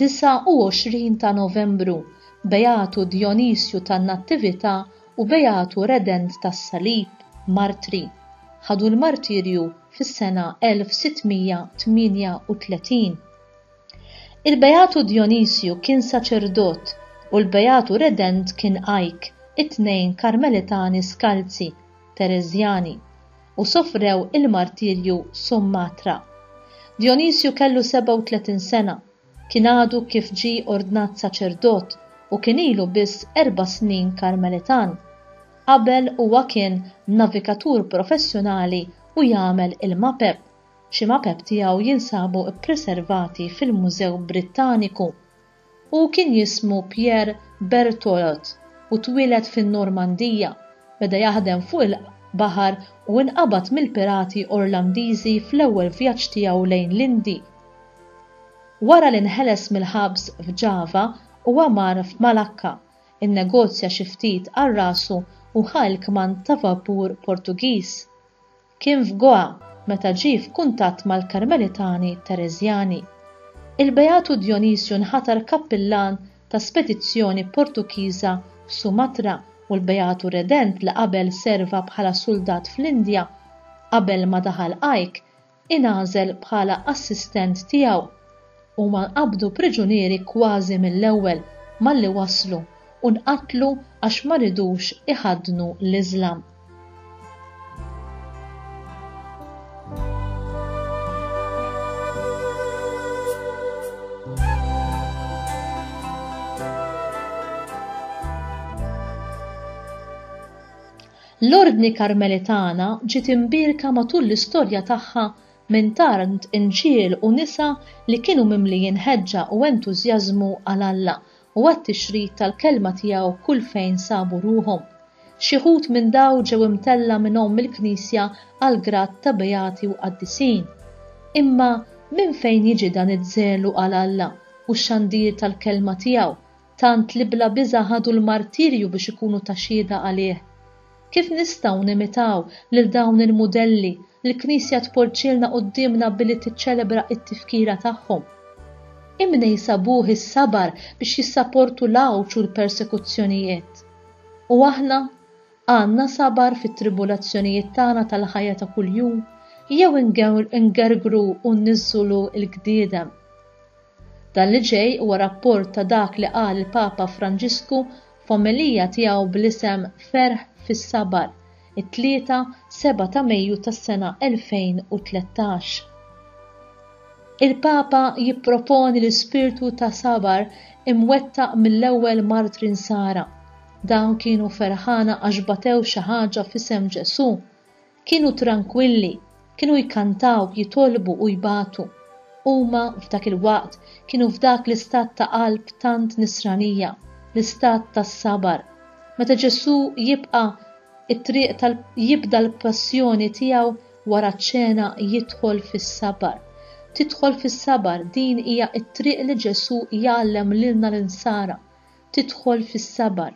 29 ta' Novembru, Beatu Dionisju tan-Nattività u Beatu Redent tas-Salib, martri. Ħadu l-martirju fis-sena 1638. Il-Beatu Djonisju kien saċerdot u l-Beatu Redent kien għajk, it-tnejn Karmelitani skalzi, Tereżjani, u sofrew il-martirju Sumatra. Djonisju kellu 37 sena, kien għadu kif ġie ordnat saċerdot u kien ilu biss erba' snin Karmelitan. Qabel huwa kien navigatur professjonali u jagħmel il-mapep. Xi mapep tiegħu jinsabu ppreservati fil-Mużew Brittaniku. Hu kien jismu Pierre Bertholot u twieled fin-Normandija. Beda jaħdem fuq il-baħar u inqabad mill-pirati Orlandiżi fl-ewwel vjaġġ tiegħu lejn l-Indi. Wara li nħeles mill-ħabs f'Ġava, huwa mar f'Malakka, innegozja xi ftit għal rasu u ħa l-kmand ta' vapur Portugiż. Kien f'Goa meta ġie f'kuntatt mal-Karmelitani Tereżjani. Il-Beatu Djonisju nħatar kappillan ta' spedizzjoni Portugiża f'Sumatra u l-Beatu Redent li qabel serva bħala suldat fl-Indja, qabel ma daħal Ike, ingħażel bħala assistent tiegħu. Huma nqabdu priġunieri kważi mill-ewwel malli waslu u nqatlu għax ma ridux iħaddnu l-Iżlam. L-Ordni Karmelitana ġiet imbierka matul l-istorja tagħha Minn tant inġiel u nisa li kienu mimlijin ħeġġa u entużjażmu għal Alla u għat-tixrid tal-Kelma tiegħu kull fejn sabu ruħhom. Xi wħud minn dawn ġew imtellgħa minn Omm il-Knisja għall-grad ta' beati u qaddisin. Imma minn fejn jiġi dan iż-żelu għal Alla u x-xandir tal-Kelma tiegħu tant li bla biża' ħadu l-martirju biex ikunu ta' xhieda għalih. Kif nistgħu nimitaw lil dawn il-mudelli li l-Knisja tpoġġilna quddiemna billi tiċċelebra t-tifkira tagħhom? Imn jsabuh is-sabar biex jissaportu l-għawġ u l-persekuzzjonijiet. U aħna? Għandna sabar fit-tribulazzjonijiet tagħna tal-ħajja ta' kuljum jew ingergru u nniżżulu l-gdiedem? Dan li ġej huwa rapport ta' dak li qal il-Papa Franġisku f'omelija tiegħu bl-isem Ferħ fis-Sabar, it-Tlieta, 7 ta' Mejju tas-sena 2013. Il-Papa jipproponi l-ispirtu ta' sabar imwettaq mill-ewwel martri Nsara. Dawn kienu ferħana għax batew xi ħaġa f'isem Ġesù. Kienu trankwilli, kienu jkantaw, jitolbu u jbatu. Huma, f'dak il-waqt, kienu f'dak l-istat ta' qalb tant nisranija, l-istat tas-sabar. Meta Ġesù jibqa' t-triq tal jibda l-passjoni tiegħu, wara ċ-ċena jidħol fis-sabar. Tidħol fis-sabar, din hija t-triq li Ġesù jgħallem lilna l-Insara. tidħol fis-sabar.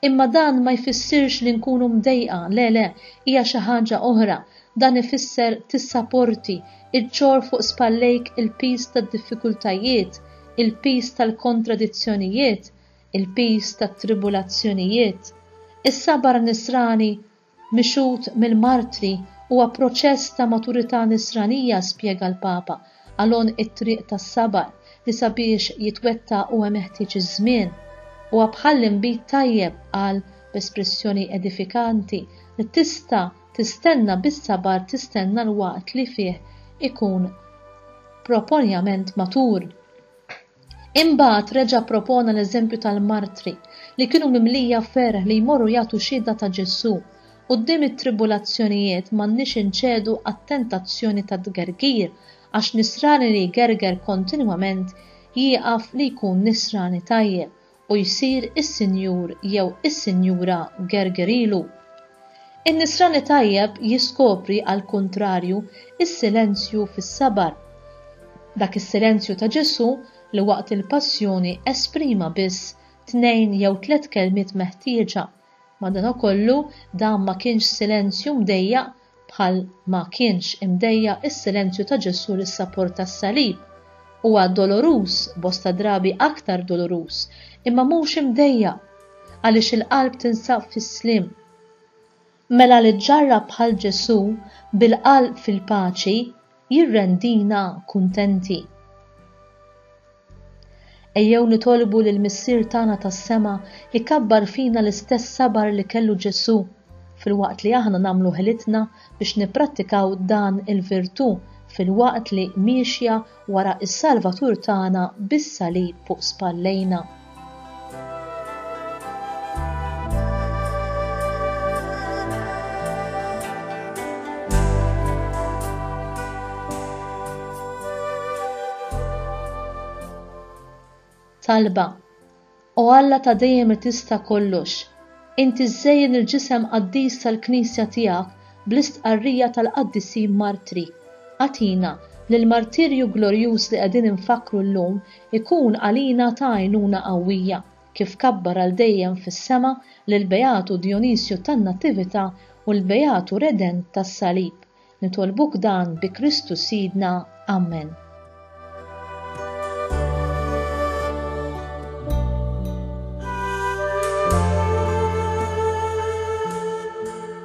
Imma dan ma jfissirx li nkunu mdejqa, le le, hija xi ħaġa oħra, dan ifisser tissaporti, iġġorr fuq spallejk il-piż tad-diffikultajiet, il-piż tal-kontradizzjonijiet, il-piż tat-tribulazzjonijiet. Is-sabar nisrani Mixhud mill-martri, huwa proċess ta' maturità nisranija, spjega l-Papa, għal għonq it-triq tas-sabar, li sabiex jitwettaq huwa meħtieġ iż-żmien. Huwa bħal inbid tajjeb, qal b'espressjoni edifikanti, li tista' tistenna bis-sabar tistenna l-waqt li fih ikun proponjament matur. Imbagħad reġa' ppropona l-eżempju tal-martri li kienu mimlija ferħ li jmorru jagħtu xhieda ta' Ġesù. Quddiem it-tribulazzjonijiet m'għandniex inċedu għat-tentazzjoni tat-tgergir, għax nisrani li jgerger kontinwament jieqaf li jkun nisrani tajjeb u jsir is-Sinjur jew is-Sinjura Gergerilu. In-Nisrani tajjeb jiskopri għall-kuntrarju s-silenzju fis-sabar. Dak is-silenzju ta' Ġesù li waqt il-Passjoni esprima biss tnejn jew tliet kelmiet meħtieġa Madanakollu, dan ma kienx silenzju mdejjaq bħal ma kienx imdejjaq is-silenzju ta' Ġesù lis-sapor tas-salib. Huwa doloruż, bosta drabi aktar doloruż, imma mhux imdejjaq, għaliex il-qalb tinsab fis-sliem. Mela li ġġarrab bħal Ġesù, bil-qalb fil-paċi, jirrendina kuntenti. Ejjew nitolbu lil Missier tagħna tas-sema jkabbar fina l-istess sabar li kellu Ġesù, filwaqt li aħna nagħmlu ħilitna biex nipprattikaw dan il-virtù filwaqt li miexja wara s-Salvatur tagħna bis-salib fuq spallejna. Talba O Alla ta' dejjem li tista' kollox, inti żżejjen il-ġisem qaddis tal-Knisja tiegħek bl-istqarrija tal-qaddisin martri. Agħtina li l-martirju glorjuż li qegħdin infakkru llum Ikun għalina ta' għajnuna qawwija, kif kabbar għal dejjem fis-sema lill-Beatu Dijonisju tan-Natività u l-Beatu Redent tas-Salib. Nitolbuk dan bi Kristu Sidna. Amen.